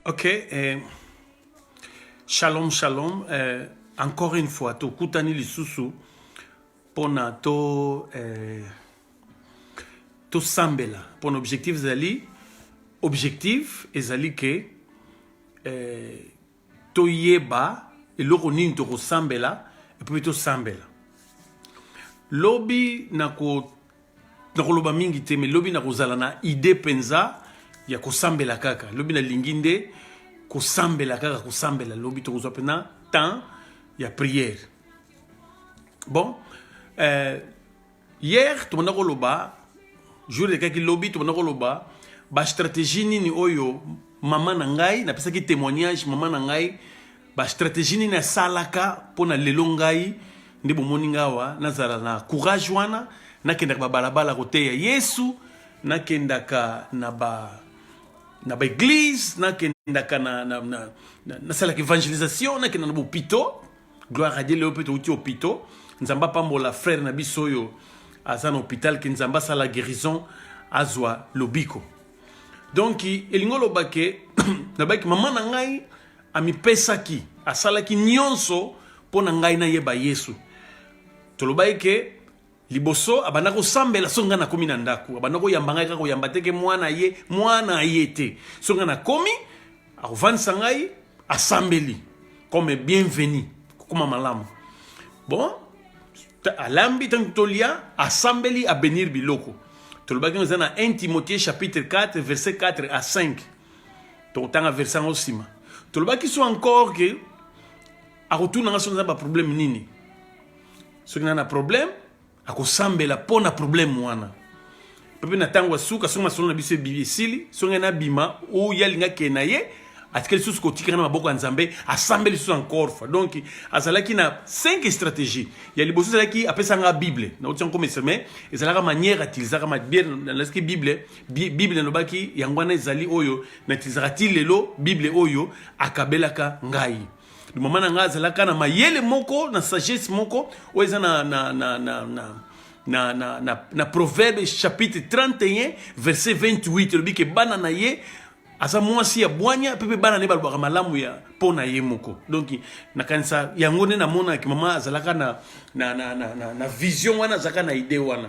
Ok, eh, shalom shalom. Eh, encore une fois, tokutani lisusu pona to eh, tosambela pona objectif ezali objectif ezali ke eh, toyeba eloko nini tokosambela epuis tosambela lobi na ko nakoloba mingi te mais lobi nakozala na idee mpenza ya kosambela kaka lobi nalingi nde kosambela kaka kosambela lobi tokozwa mpena temps ya prière bon euh, hier tobanda koloba jour elekaki lobi tobanda koloba bastratégie nini oyo mama na ngai napesaki témoignage mama na ngai ba strategie nini asalaka mpo na lelo ngai nde bomoni ngai awa nazala na courage wana nakendaka babalabala koteya yesu nakendaka na ba na baeglise nakendaka na, na, na, na, nasalaka evangelisation nakenda na bopito gloire adie leo mpe touti opito nzambe apambola frere na biso oyo aza na hôpital ke nzambe asala guérison azwa lobiko donk elingi oloba ke nabaki mama na ngai Amipesaki, asalaki nyonso mpo na ngai nayeba Yesu. Tolobaki ke liboso abanda kosambela soki ngai nakomi na ndako abanda koyamba ngai kaka koyamba te ke mwana ye mwana ye te soki ngai nakomi akofandisa ngai asambeli comme bienvenu kokoma malamu bon alambi ntango tolia asambeli abenir biloko tolobaki eza na 1 timothée chapitre 4 verset 4 à 5 tokotanga verse yango nsima tolobaki so encore ke akotuna nga soki naza baproblème nini soki naa na problème akosambela mpo na problème wana mpe na ntango ya suka soki masolo na biso ebibi esili soki ngai nabima oyo alinga kee na ye atikali lisusu kotikaka na maboko ya nzambe asambeli lisusu encore fois donc azalaki na 5 stratégie ya liboso ezalaki apesanga bible nauti yango komestre mais ezalaka manière atilisaka mabie nalesaki bible Bible elobaki yango wana ezali oyo na tizaka ti lelo Bible oyo akabelaka ngai. Mama na ngai azalaka na mayele moko na sagesse moko oyo eza na na na na, na na, na, na, na proverbe chapitre 31 verset 28 elobi ke bana na ye aza mwasi ya bwanya mpe mpe bana na ye balobaka malamu ya mpo na ye moko donk nakanisa yango nde namonaki mama azalaka na, na, na, na, na, na vision wana azalaka na idee wana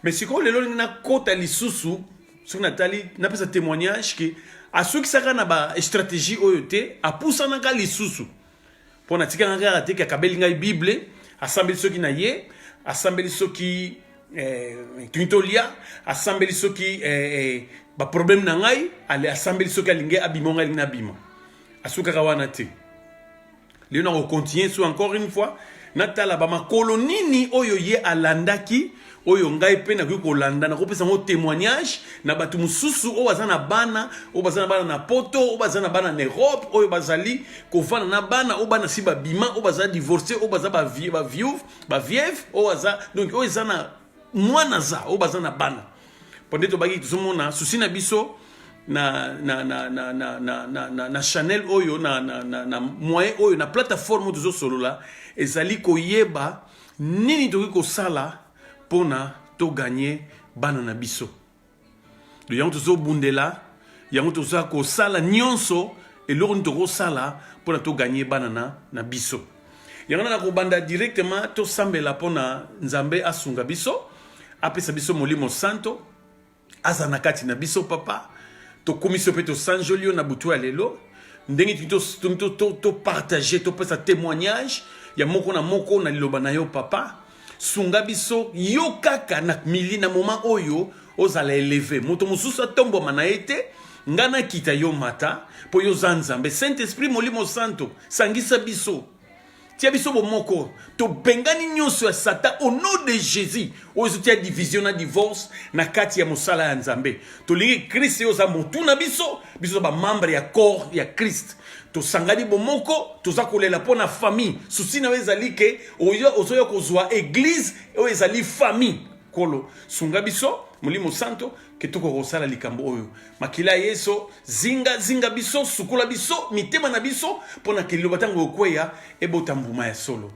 mais sikoyo lelo lingi nakota lisusu soki natali napesa témoignage ke asukisaka na bastratégie oyo te apusanaka lisusu mpo natikaka kaka te kakabeli ngai bible asambeli soki na ye asambeli soki eh, tolia asambeli soki eh, eh, baproblème na ngai asambeli soki alingi abima ngai alingi nabima asukaka wana te lelo na kocontinue so encore une fois natala bamakolo nini oyo ye alandaki oyo ngai mpe nakoki kolanda nakopesa yango témoignage na bato mosusu oyo baza na bana oyo baza na bana na poto oyo baza na bana na europe oyo bazali kofanda na bana oyo bana si babima oyo baza divorce oyo baza bavieuve bavieve oyo aza donc oyo eza na mwana za oyo baza na bana pande tobaki tozomona susi na biso na, na, na, na, na, na, na, na, na chanel oyo na, na, na, na moyen oyo na plateforme oyo tozosolola ezali koyeba nini tokoki kosala mpona toganye bana na biso yango tozobundela yango toza kosala nyonso eloko nini tokosala mpo na toganye bana na, na biso yango na nakobanda directement tosambela mpo na nzambe asunga biso apesa biso molimo santo aza na kati na biso papa tokumisi yo mpe tosanjoli yo na butu ya lelo ndenge tolingi topartage topesa témoignage ya moko na moko na liloba na yo papa sunga biso yo kaka na mili na moment oyo ozala eleve moto mosusu atombwama na ye te ngai nakita yo mata mpo yo oza nzambe saint esprit molimo santo sangisa biso tia biso bomoko tobengani nyonso ya satan au nom de jésus oyo ezotia division na divorce na kati ya mosala ya nzambe tolingi krist yo oza motu na biso biso oza bamembre ya corps ya krist tosangani bomoko toza kolela mpo na famille susi na yo ezali ke oyo ozoya kozwa eglise oyo ezali famille kolo sunga biso molimo santo ke tokoka kosala likambo oyo makila ya yesu zinga zinga biso sukola biso mitema na biso mpo na keliloba ntango okweya ebota mbuma ya solo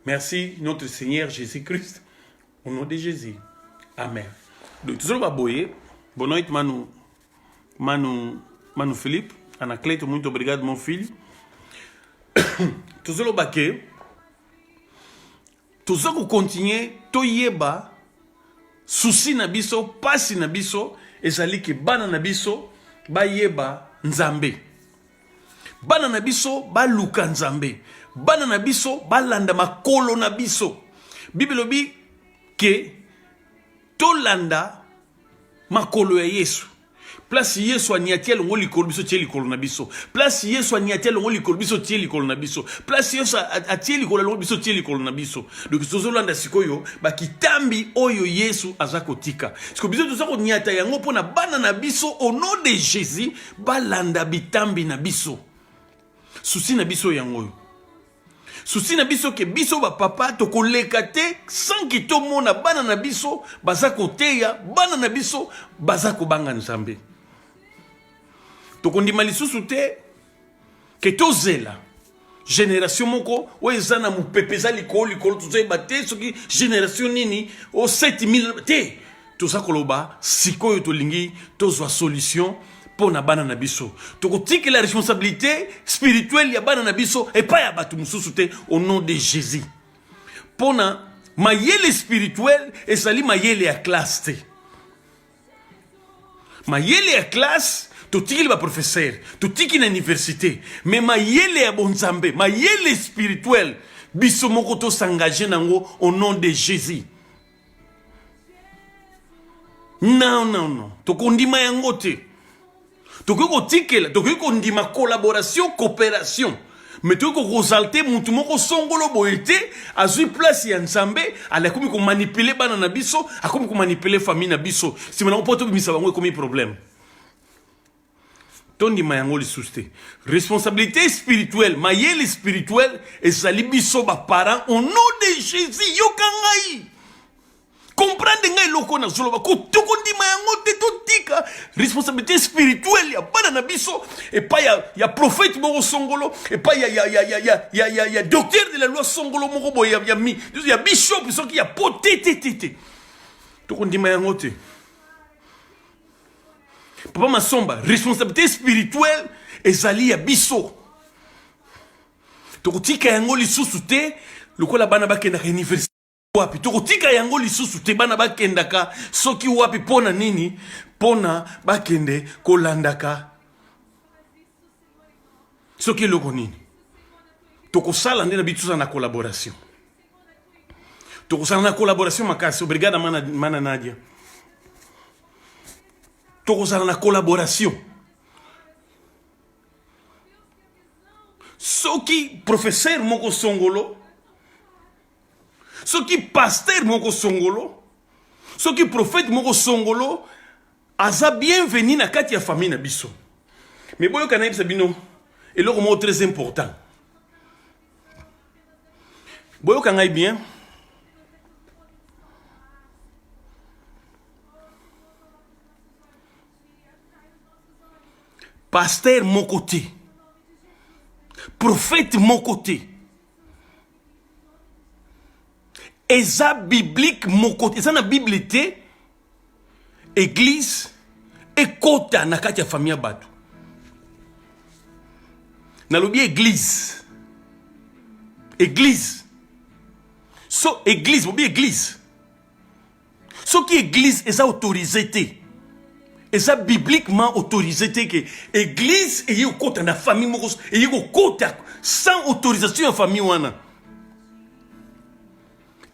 merci notre seigneur jésus christ au nom de jésus amen donc tozoloba boye bonoit manu Manu, Manu Philippe, Anacleto, muito obrigado, mon filho. Tuzolo Baque, Tuzoko continuer, Toyeba, souci na biso, pasi na biso, ezali ke bana na biso, bayeba Nzambe. Bana na biso, baluka Nzambe. Bana na biso, balanda makolo na biso. Bible lobi ke tolanda makolo ya yesu place yesu aniati elongo likolo biso tie likolo na biso place yesu aniati elongo likolo biso tie likolo na biso place yesu atie likolo elongo biso tie likolo na biso donc tozolanda sikoyo bakitambi oyo yesu aza kotika siko biso toza koniata yango mpo na bana na biso au nom de jésus balanda bitambi na biso souci na biso yango oyo souci na biso ke biso bapapa tokoleka te sanki tomona bana na biso baza koteya bana na biso baza kobanga nzambe tokondima lisusu te ke tozela génération moko oyo eza na mopepe eza likolo likolo tozoyeba te soki génération nini o 7000 te toza koloba sikoyo tolingi tozwa solution mpo na bana na biso tokotikela responsabilité spirituelle ya bana na biso epai ya bato mosusu te au nom de jésus mpo na mayele spirituel ezali mayele ya classe te mayele ya classe totikeli baprofesere totiki na université me mayele ya bonzambe mayele spirituel biso moko tosengage na yango au nom de jésus non non non tokondima yango te tokoki kotikela tokoki kondima collaboration coopération me toki kokosalte motu moko songolo boye te azwi place ya nzambe ali akomi komanipule bana na biso akomi komanipule famille na biso nsima nango mpo tobimisa bango ekomi problème tondima yango lisusu te responsabilité spirituelle mayele spirituelle ezali biso baparent au nom de jésus yoka ngai comprendre ngai eloko nazoloba tokondima yango te totika responsabilité spirituelle ya bana na biso epai ya, ya prophète moko songolo epai ya, ya, ya, ya, ya, ya, ya, ya docteur de la loi songolo moko boye ya, ya, ya bishop soki ya po te te te te tokondima yango te Papa Masomba, responsabilité spirituelle ezali ya biso. Tokotika yango lisusu te lokola bana bakendaka université wapi tokotika yango lisusu te bana bakendaka soki wapi mpo na nini mpo na bakende kolandaka soki eloko nini tokosala nde na bitu tozala na collaboration tokosala na collaboration makasi obrigada mana, mana nadia tokozala na collaboration soki professeur moko songolo soki pasteur moko songolo soki prophète moko songolo aza bienvenu na kati ya famille na biso me boyoka nayebisa bino eloko moko très important boyoka ngai bien pasteur moko te prophète moko te eza biblique moko te eza na bible te eglise ekota na kati ya famille ya bato nalobi eglise eglise so eglise bobi eglise soki eglise eza autorise te eza bibliquement autorise te ke eglise eye kokota na famille moko eye kokota sans autorisation ya famille wana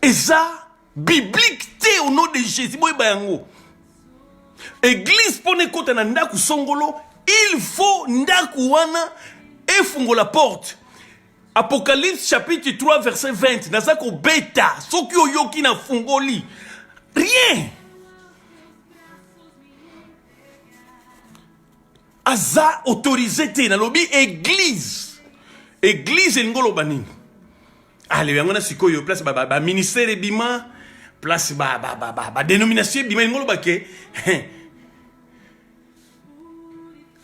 eza biblique te au nom de jésus boyeba yango eglise mpo na ekota na ndako songolo il faut ndako wana efungola porte apocalypse chapitre 3 verset 20 naza kobeta soki oyoki na fungoli rien aza autorise te nalobi eglise eglise elingi oloba nini ale ah, yango na sikoyo place baministère ba, ba ebima place badénomination ebima elingi oloba ke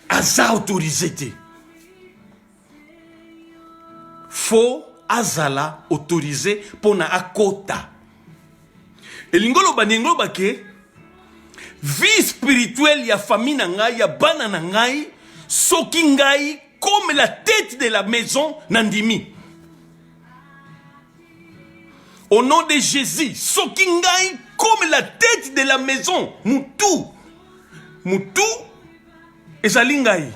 aza autorise te fo azala autorise mpo na akota elingi oloba ndenge oloba ke vie spirituelle ya famille na ngai ya bana na ngai soki ngai comme la tête de la maison nandimi au nom de jésus soki ngai comme la tête de la maison mutu mutu ezali ngai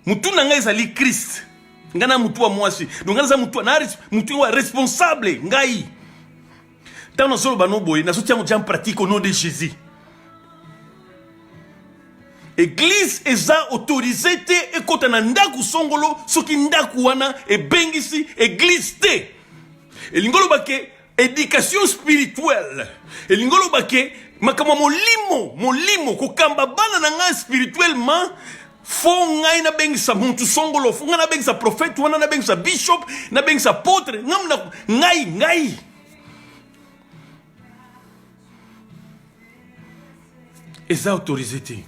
mutu na ngai ezali christ ngai na mutu ya mwasi donc ngai naza mutu na mutu ya responsable ngai ntango nazoloba no boye nazotia yango en pratique au nom de jésus eglize eza autorize te ekota na ndako songolo soki ndako wana ebengisi eglize te elingi oloba ke Education spirituelle elingi oloba ke makambo ya molimo molimo kokamba bana na ngai spirituellement fo ngai nabengisa mutu songolo fo ngai nabengisa prophète wana nabengisa bishop nabengisa apotre ngai ngai eza autorise te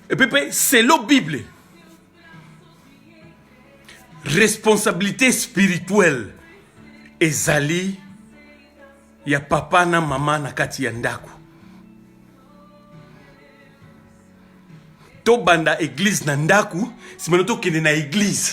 epe mpe selo bible responsabilité spirituelle ezali ya papa na mama na kati ya ndako tobanda eglize na ndako simana tokende na eglize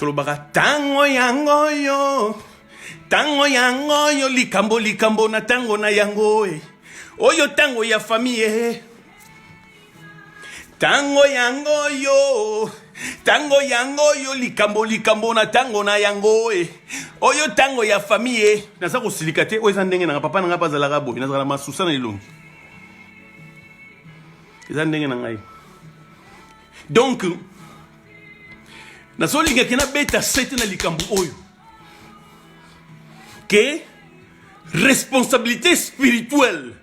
tolobaka tango yango yo tango yango yo likambo likambo na tango na yango e oyo tango ya famiye eh. tango yango yo tango yango yo likambo likambo na tango na yango e oyo tango ya famiye eh. naza kosilika te oyo eza ndenge nanga papa na ngai bazalaka boye nazalaka masusa na elongi eza ndenge na ngai donc nazolingaki nabeta sete na likambo oyo ke responsabilité spirituelle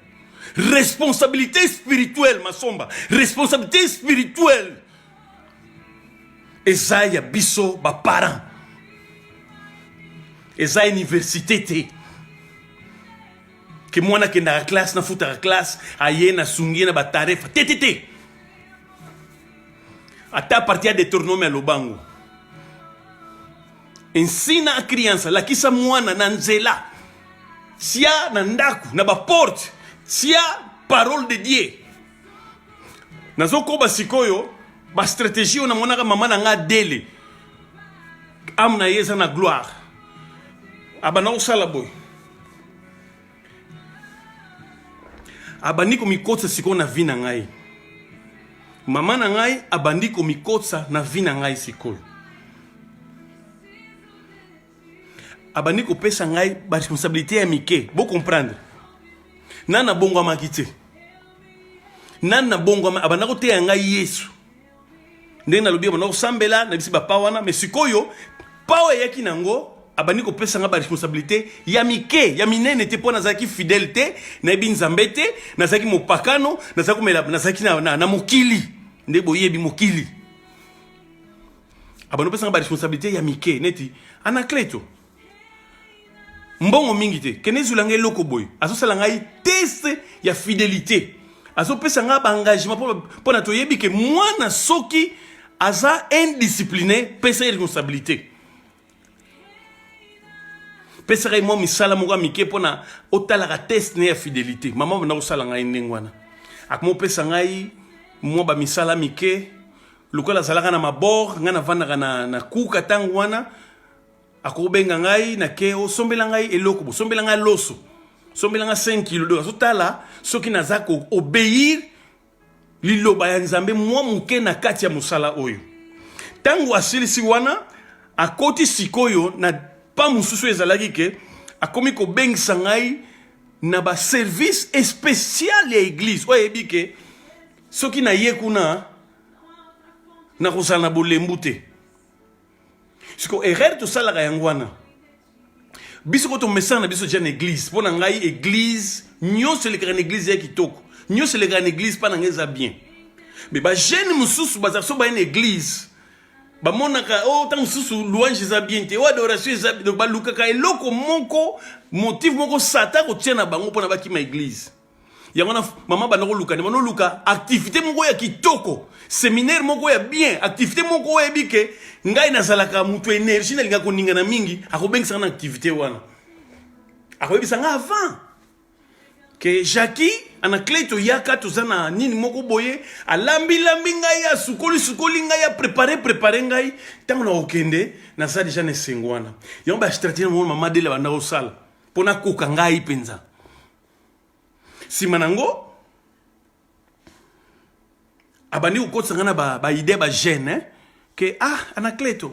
responsabilité spirituelle masomba responsabilité spirituelle eza ya biso baparent eza université te ke mwana akendaka classe nafutaka classe aye nasungi ye na batarefa te te te ata parti ya detronome aloba yango ensina a criança lakisa mwana na nzela tia na ndako na baporte tia parole de dieu nazokoba sikoyo bastratégie oyo namonaka mama na ngai adele ame na ye eza na gloire abanda kosala boye abandi komikotisa sikoyo na vi na ngai mama na ngai abandi komikotisa na vi na ngai sikoyo abandi kopesa ngai baresponsabilité ya mike bocomprendre nani nabongwamaki te nani nabongwama abanda koteya ngai yesu ndenge nalobi banda kosambela na bisi bapa wana me sikoyo pa oyo eyaki nango abandi kopesa nga baresponsabilité ya mike ya minene te mpo nazalaki fidèle te nayebi nzambe te nazalaki mopakano nazalaki komela nazalaki na, na, na mokili nde boyebi mokili abandi kopesa nga baresponsabilité ya mike neti anacleto mbongo mingi te kende ezwela ngai eloko boye azosala ngai test ya fidelité azopesa ngai baengagement mpo na toyebi ke mwana soki aza indiscipline pesa ye responsabilité pesaka ye mwa misala moko ya mike mpo na otalaka test ne ya fidelité mama banda kosala ngai ndenge wana akoma opesa ngai mwa bamisala mike lokola azalaka na mabor ngai navandaka na, na kuka ntango wana akobenga ngai na ke osombela ngai eloko bosombela ngai loso sombela ngai 5 kilo donc azotala soki naza ko obeir liloba ya nzambe mwa moke na kati ya mosala oyo ntango asilisi wana akoti sikoyo na pa mosusu ezalaki ke akomi kobengisa ngai na baservice especial ya eglize oyo ayebi ke soki naye kuna nakozala na bolembu te siko erreur tosalaka yango wana biso ko tomesana na biso tya na église mpo na ngai église nyonso elekaka na église ya kitoko nyonso elekaka na église mpa na ngai eza bien me bajeune mosusu bazala so baye na église bamonaka o oh, ntango mosusu louange eza bien te o oh, adoration eza donc balukaka eloko moko motive moko sata kotia na bango mpona bakima église yango na mama banda koluka nde banoluka activité moko ya kitoko seminaire moko ya bien activité moko oyebi ke ngai nazalaka moto énergie nalingaka koningana mingi akobengisaka na activité wana akoyebisa ngai avant ke jacki anaclé toyaka toza na nini moko boye alambilambi ngai asukoli sukoli ngai aprépare prépare ngai ntango na kokende naza deja na esengo wana yango bastratégie na moko mama dele abanda kosala mpo nakoka ngai mpenza nsima na yango abandi kokotisa ngai na baide ba bagene eh? ke ah anacleto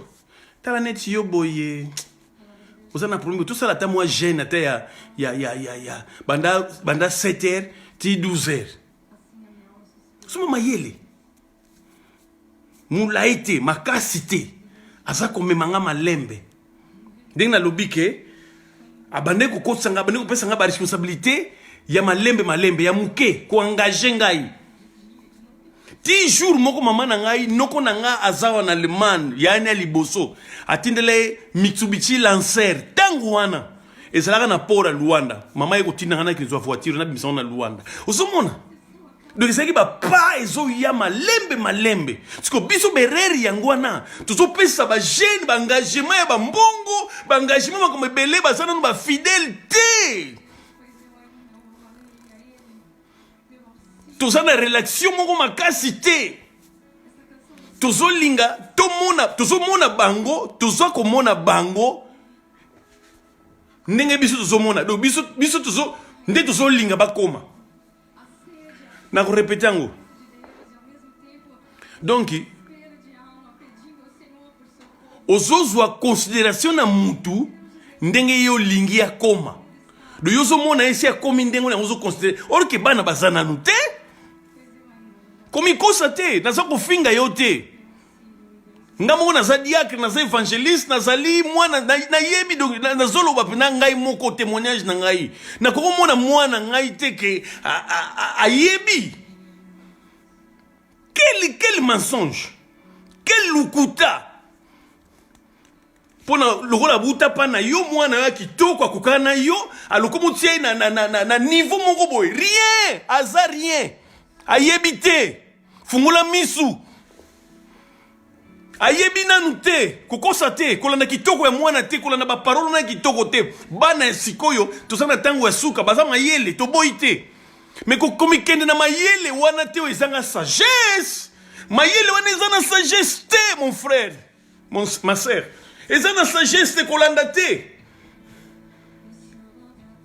tala neti yo boye oza na problème tosala ata mwa gene ata ya, ya, ya, ya, ya. banda, banda 7 heures ti 12 heures soma mayele molai te makasi te aza komema nga malembe ndenge nalobi ke abandaki kokotisa nga abandaki kopesa nga baresponsabilité ya malembe malembe ya moke koengage ngai ti jour moko mama na ngai noko na ngai aza wana allemagne yaani ya liboso atindela ye mitsubishi lancer ntango wana ezalaka na port ya luanda mama ye kotinda ngai nakizwa voiture nabimisa ngo na luanda ozomona donc ezalaki bapa ezoya malembe malembe siko biso berere yango wana tozopesa bajeune baengagement ya bambongo baengagement makambo ebele baza nano bafidele te toza na relation moko makasi te tozolinga tomona tozomona bango toza komona bango ndenge biso tozomona donc biso, biso tozo, nde tozolinga bakoma Na kurepete yango. Donc ozozwa consideration na mutu ndenge ye olingi akoma do yo ozomona ye si akomi ndenge yango ozoconsidere or ke bana baza nanu te komikosa te naza kofinga yo te nga moko naza diacre naza évangéliste nazali mwana nayebi donc nazoloba mpena ngai moko témoignage na ngai nakoki omona mwana ngai te ke ayebi quel, quel mensonge quel lokuta mpona lokola buta pana yo mwana yo ya kitoko akokana na yo alokomi otia ye na, na, na, na, na niveau moko boye rien aza rien ayebi te fungola misu ayebi nanu te kokosa te kolanda kitoko ya mwana te kolanda baparole na kitoko te bana ya sikoyo toza na ntango ya suka baza mayele toboyi te me komikende na mayele wana te oyo ezanga sagesse mayele wana eza na sagesse te mon frère Mon, ma sœur, eza na sagesse te kolanda te.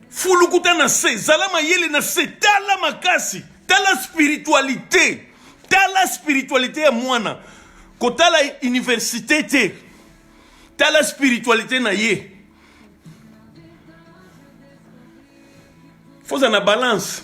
Fulukuta na se, zala mayele na se, tala makasi, tala spiritualité, tala spiritualité ya mwana, kotala université te, tala spiritualité na ye. Faut na balance.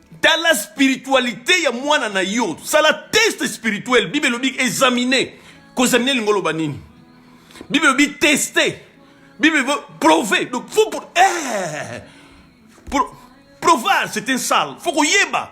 tala spiritualite ya mwana na yo sala test spirituel bible elobi examine kozamine elingo oloba nini bible elobi teste bible elobi prove donc faut pour eh, pour provar c'est un sale faut koyeba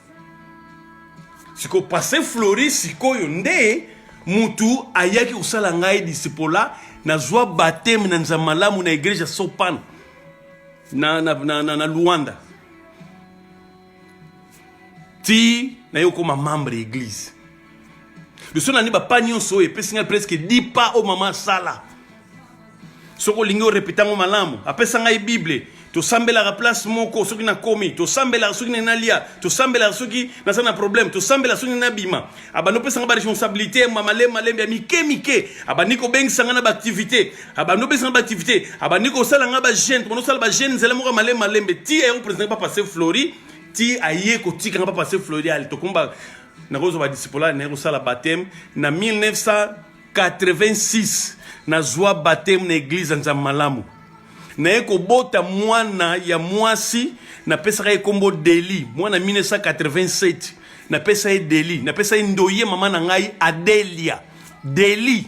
siko passe flori sikoyo nde mutu ayaki kosala ngai disipola nazwa bateme na nzambe malamu na egreja sopan na, na, na, na, na luanda ti naye okoma membre ya eglise biso nani bapa nyonso oyo epesi ngai presque 10 pas oyo mama asala soki olingi orepeta yango malamu apesa ngai bible tosambelaka place moko soki nakomi tosambelaka soki nini nalia tosambelaka soki naza na problème tosambelaka soki nini nabima abandi opesa ngai baresponsabilité mamalemalembe ya mike mike abandi kobengisa ngai na baactivité abandi opesa ngai baactivité abandi kosala ngai bagene tobandi osala bagene nzela moko ya malemalembe ti aye kopresente papa se flori ti aye kotika ngai papa se flori ali tokomi nakozwa badisipolale naye kosala bateme na 1986 nazwa bateme na eglize ya nzambe malamu naye kobota mwana ya mwasi napesaka ye nkombo deli mwana 1987 napesa ye deli napesa ye ndoye mama na ngai adelia deli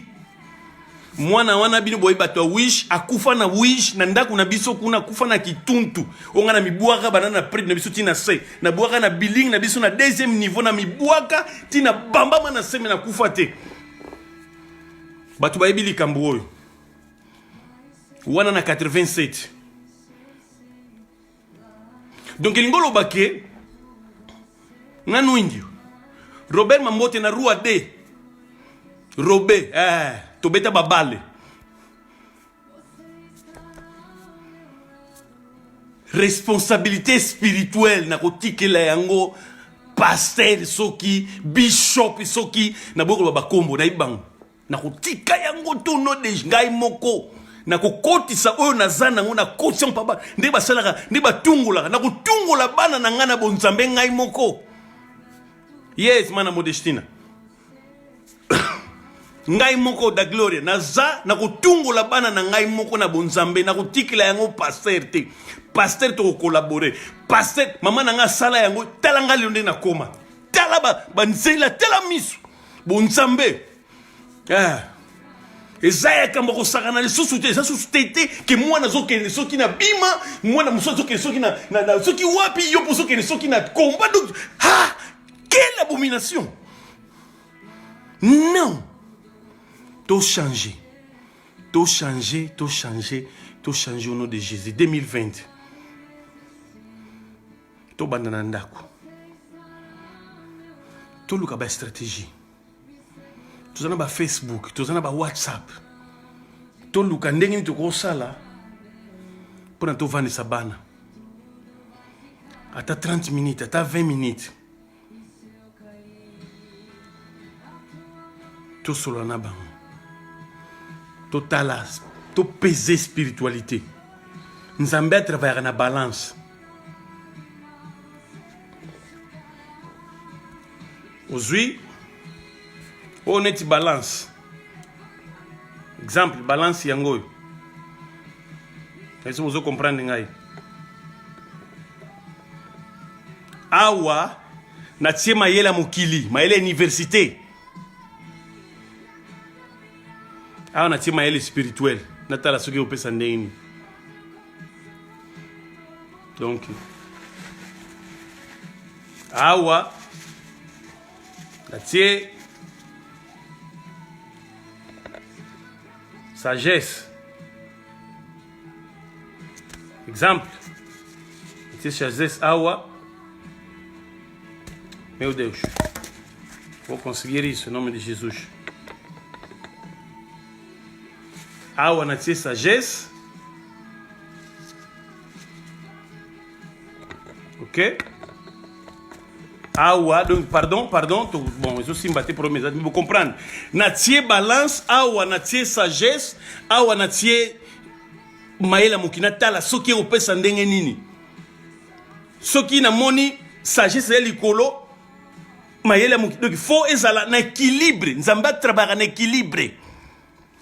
mwana wana bino boyebi bato ya wish akufa na wish na ndako na biso kuna akufa na kituntu onga na mibwaka bana na pride na biso ti na se na bwaka na billing na biso na deuxième niveau na mibwaka ti na bambama na seme na kufa te bato bayebi likambo oyo wana na 87 donc elingi oloba ke nga nuindio robert mambote na rua d robe eh, tobeta babale responsabilité spirituelle nakotikela yango paster soki bishop soki naboyi koloba bakombo nayebi bango nakotika yango tono de ngai moko nakokotisa oyo naza nango na koti yango papa nde basalaka nde batungolaka nakotungola bana na ngai na bonzambe ngai moko yes mana modestina ngai moko da gloria naza nakotungola bana na ngai moko na bonzambe nakotikela yango paster te paster tokokolabore paster mama na ngai asala yango tala ngai lelo nde nakoma tala banzela ba tala miso bonzambe eh. eza ya kamba kosakana lisusu te eza susu te te ke mwana azokende soki na bima mwana mosusu azokende soki na, na, na soki wapi yo mpo ozokende soki na combat donc ha quelle abomination non tochange tochange tochange tochange au nom de jésus 2020 tobanda na ndako toluka bastratégie toza na bafacebook toza na bawhatsapp toluka ndenge nini tokosala mpo na tovandisa bana ata 30 minutes ata 20 minutes tosolola na bango totala topese spiritualité nzambe atravayaka na balance ozwi oyo neti balance exemple balance yango oyo esi bozo comprendre ngai awa natie mayele ya mokili mayele ya université awa natie mayele spirituel natala soki opesa ndenge nini donc awa natie sagesse Exemple, c'est Chazes Awa, meu Deus, vou conseguir isso em nome de Jesus. Awa na tia sagesse, ok awa ah donc pardon pardon to, bon ezosimba te problème eza bocomprendre natie balance awa ah natie sagesse awa ah natie mayela moki natala soki ekopesa ndenge nini soki namoni sagesse ya likolo mayele moki donc fo ezala na équilibre nzambe atrabaka na équilibre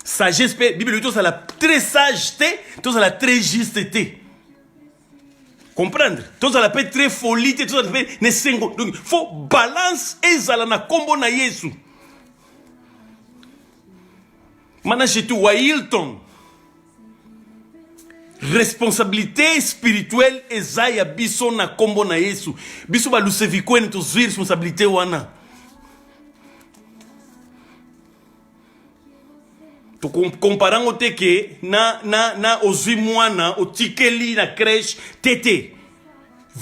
sagesse mpe bibele tozala très sage te tozala très juste te comprendre tozala mpe très folie te tozala mpe na esengo donc faut balance ezala na nkombo na yesu managetu wa hilton responsabilité spirituelle eza ya biso na nkombo na yesu biso balusevikuene tozwi responsabilité wana tokompara yango te ke na, na, na ozwi mwana otikeli na crèche te te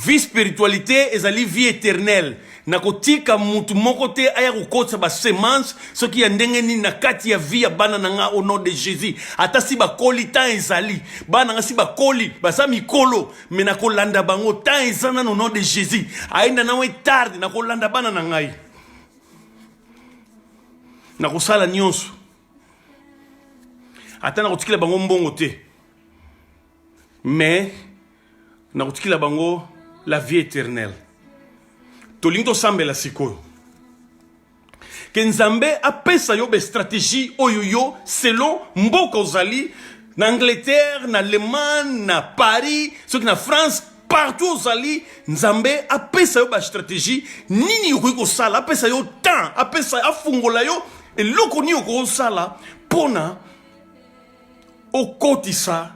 vie spiritualité ezali vie éternelle na kotika motu moko te aya kokotisa basemence soki ya ndenge nini na kati ya vie ya bana na nga au nom de jésus ata si bakoli temps ezali bana nga si bakoli baza mikolo me na kolanda bango temps eza nano au nom de jésus ayenda na we tarde na kolanda bana na ngai nakosala nyonso ata nakotikela bango mbongo te mais nakotikela bango la vie éternelle tolingi tosambela sikoyo ke nzambe apesa yo bastratégie oyo yo selon mboka ozali na angleterre na allemagne na paris soki na france partout ozali nzambe apesa yo bastratégie nini okoki kosala apesa yo temps apesa afungola yo eloko nini okoki kosala mpona okotisa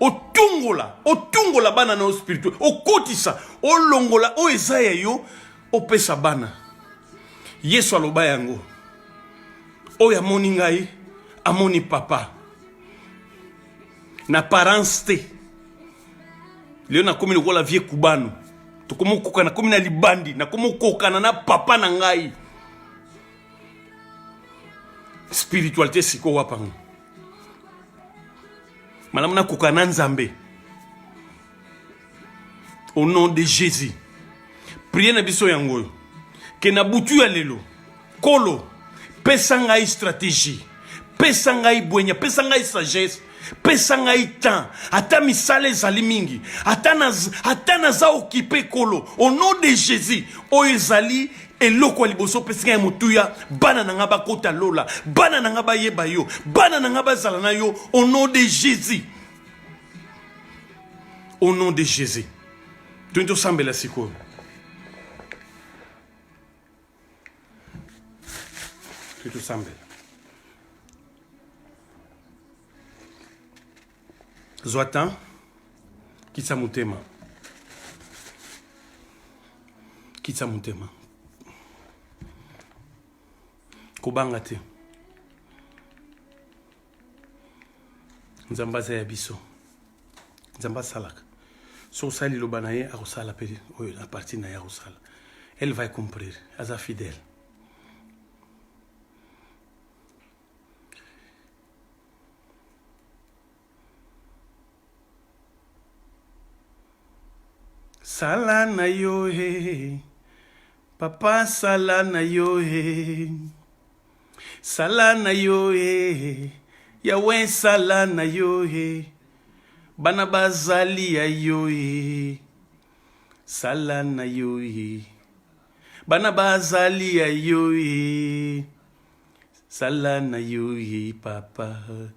otungola otungola bana na yo spirituel okotisa olongola oyo eza ya yo opesa bana yesu aloba yango oyo amoni ngai amoni papa na parence te lelo nakomi lokola vie kubano tokomi okoka nakomi na libandi nakomi okokana na papa na ngai spiritualité sikoyo wapango malamu nakoka na nzambe au nom de jésus priye na biso yango oyo ke na butu ya lelo kolo pesa ngai stratégie pesa ngai bwenya pesa ngai sagesse pesa ngai temps ata misala ezali mingi ata naza okipe kolo au nom de jésus oyo ezali eloko ya liboso opesi ngai motuya bana na ngai bakota lola bana na ngai bayeba yo bana na ngai bazala na yo au nom de jésus au nom de jésus toyini tosambela sikoyo toyini tosambela zwa temps kitisa motema kitisa motema kobanga te nzambe aza ya biso nzambe asalaka so osali liloba na ye akosala mpe oyo na parti na ye akosala elle va comprendre aza fidèle sala na yo he papa sala na yo he Sala na yo eh, Yahweh sala na yo eh, bana bazali ya yo eh, sala na yo eh, bana bazali ya yo eh, sala na yo eh, papa.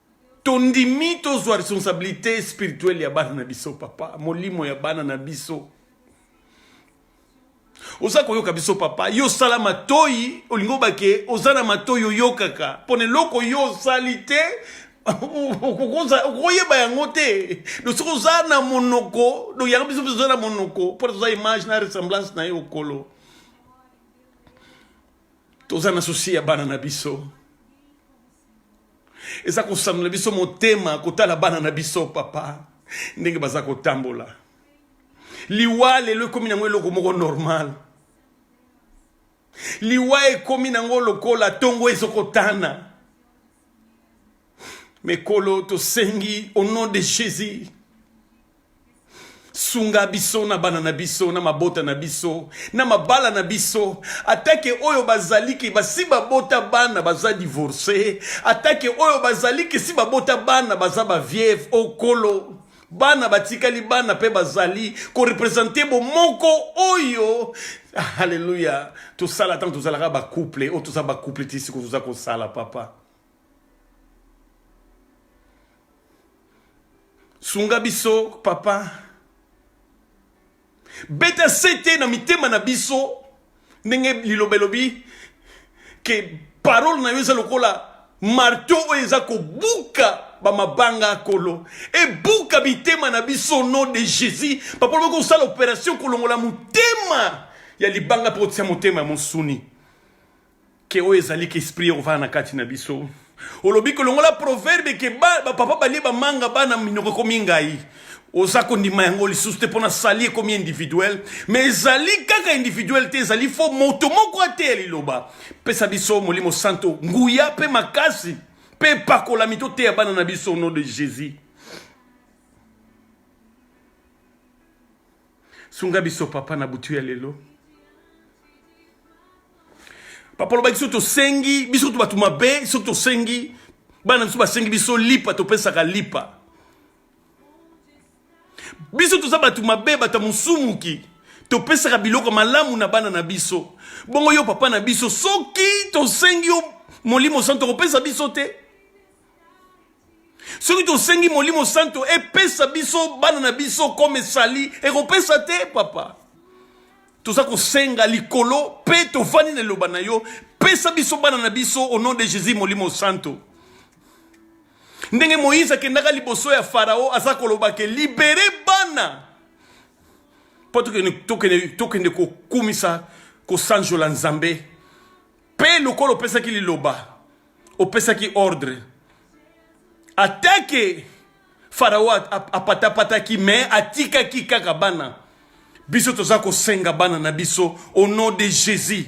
tondimi tozwa responsabilité spirituelle ya bana na biso papa molimo ya bana na biso oza koyoka biso papa yo osala matoi olingi obake oza na matoi oyokaka mpo na eloko yo osali te okoyeba yango te do soki oza na monoko do yango biso mpe oza na monoko mpo toza image na ressemblance na ye okolo toza na susi ya bana na biso eza kosanola biso motema kotala bana na biso papa ndenge baza kotambola liwa lelo ekomi nango eloko moko normal liwa ekomi nango lokola ntongo ezokotana mekolo tosengi au nom de jésus sunga biso na bana na biso na mabota na biso na mabala na biso atake oyo bazali ke basi babota bana baza divorce atake oyo bazali ke si babota bana baza bavieve okolo bana batikali bana mpe bazali korepresente bomoko oyo halleluya tosala ntango tozalaka bacouple oyo toza bacouple ti siko toza kosala papa sunga biso papa beta sete na mitema na biso ndenge liloba elobi ke parole na yo eza lokola marto oyo eza kobuka bamabanga ya kolo ebuka bitema na biso nom de jésus papa lobi kosala opération kolongola motema ya libanga mpe kotia motema ya mosuni Ke oyo ezali ke esprit ya kovanda na kati na biso. Olobi ke longola proverbe ke ba, ba papa balie ba manga bana minoko ekomi ngai. Oza kondima yango lisusu te pona sali ekomi individuel, mais ezali kaka individuel te, ezali fo moto moko ateya liloba. Pesa biso Molimo Santo nguya pe makasi pe pakolami toteya bana na biso au nom de Jésus. sunga biso papa na butu ya lelo papa olobaki soki tosengi biso kutu bato mabe soki tosengi bana biso basengi biso lipa topesaka lipa biso toza bato mabe bato ya mosumuki topesaka biloko malamu na bana na biso bongo yo papa na biso soki tosengi yo molimo santo okopesa biso te soki tosengi molimo santo epesa biso bana na biso comme esali ekopesa te papa toza kosenga likolo mpe tofandi na eloba na yo pesa biso bana na biso au nom de jésus molimo santo ndenge moïse akendaka liboso ya farao aza koloba ke libere bana mpo tokende kokumisa kosanjola nzambe Mpe lokola opesaki liloba, opesaki ordre, atake farao apatapataki me atikaki kaka bana biso toza kosenga bana na biso au nom de jésus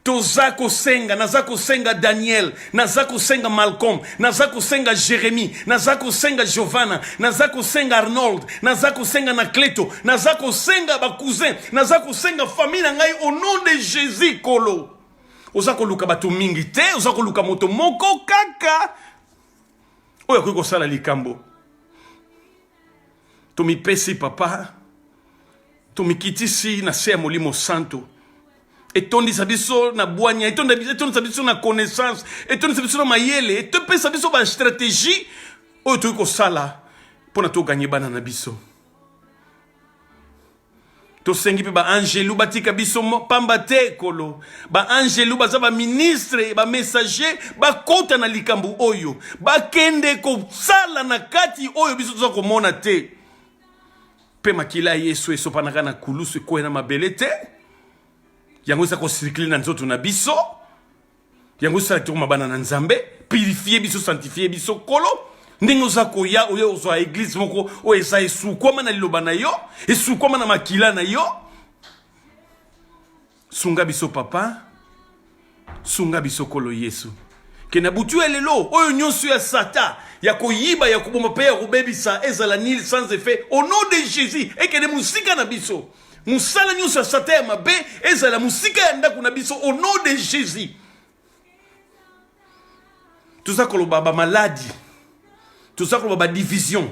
toza kosenga naza kosenga daniel naza kosenga malcolm naza kosenga jérémi naza kosenga giovanna naza kosenga arnold naza kosenga na cleto naza kosenga bacousin naza kosenga famille na ngai au nom de jésus kolo oza koluka bato mingi te oza koluka moto moko kaka oyo akoki kosala likambo tomipesi papa tomikitisi na se ya molimo santo etondisa biso na bwanya etondisa biso na connaissance etondisa biso na mayele etopesa biso bastratégie oyo tokoki kosala mpo na toganye bana na biso tosengi mpe baangelu batika biso pamba te ekolo baangelu baza baministre bamessager bakota na likambo oyo bakende kosala na kati oyo biso toza komona te Mpe makila ya Yesu esopanaka na kulusu ekweya na mabele te, yango eza kosirikile na nzoto na biso, yango esala tokoma bana na Nzambe, purifie biso, sanctifie biso, Nkolo ndenge oza koya oyo ozwa eglize moko oyo eza esukwama na liloba na yo esukwama na makila na yo Sunga biso papa, sunga biso kolo Yesu. Ke na butu ya lelo oyo nyonso ya sata ya koyiba ya koboma mpe ya kobebisa ezala nil sans effet au nom de Jésus ekende mosika na biso. Mosala nyonso ya sata ya mabe ezala mosika ya ndako na biso au nom de Jésus. toza koloba bamaladi toza koloba badivision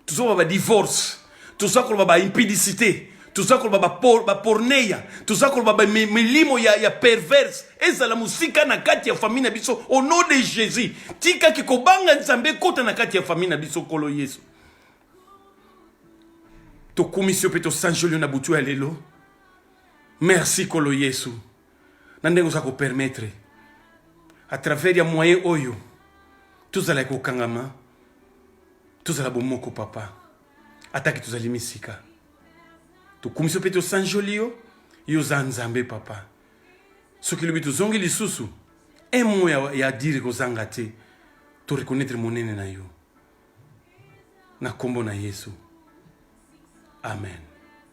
toza koloba badivorce toza koloba baimpidicité toza koloba baporneya toza koloba bamilimo ya, ya perverse ezala mosika na kati ya famille na biso au nom de jésus tikaki kobanga nzambe ekota na kati ya famille na biso nkolo yesu tokumisi yo mpe tosanjoli yo na butu ya lelo merci nkolo yesu na ndenge oza ko permettre à travers ya moyen oyo tozala kokangama tozala bomoko papa atake tozali misika tokumisi mpe tosanjoli yo yo oza nzambe papa soki lobi tozongi lisusu un mot ya, ya dire kozanga te to reconnaître monene na yo na nkombo na yesu amen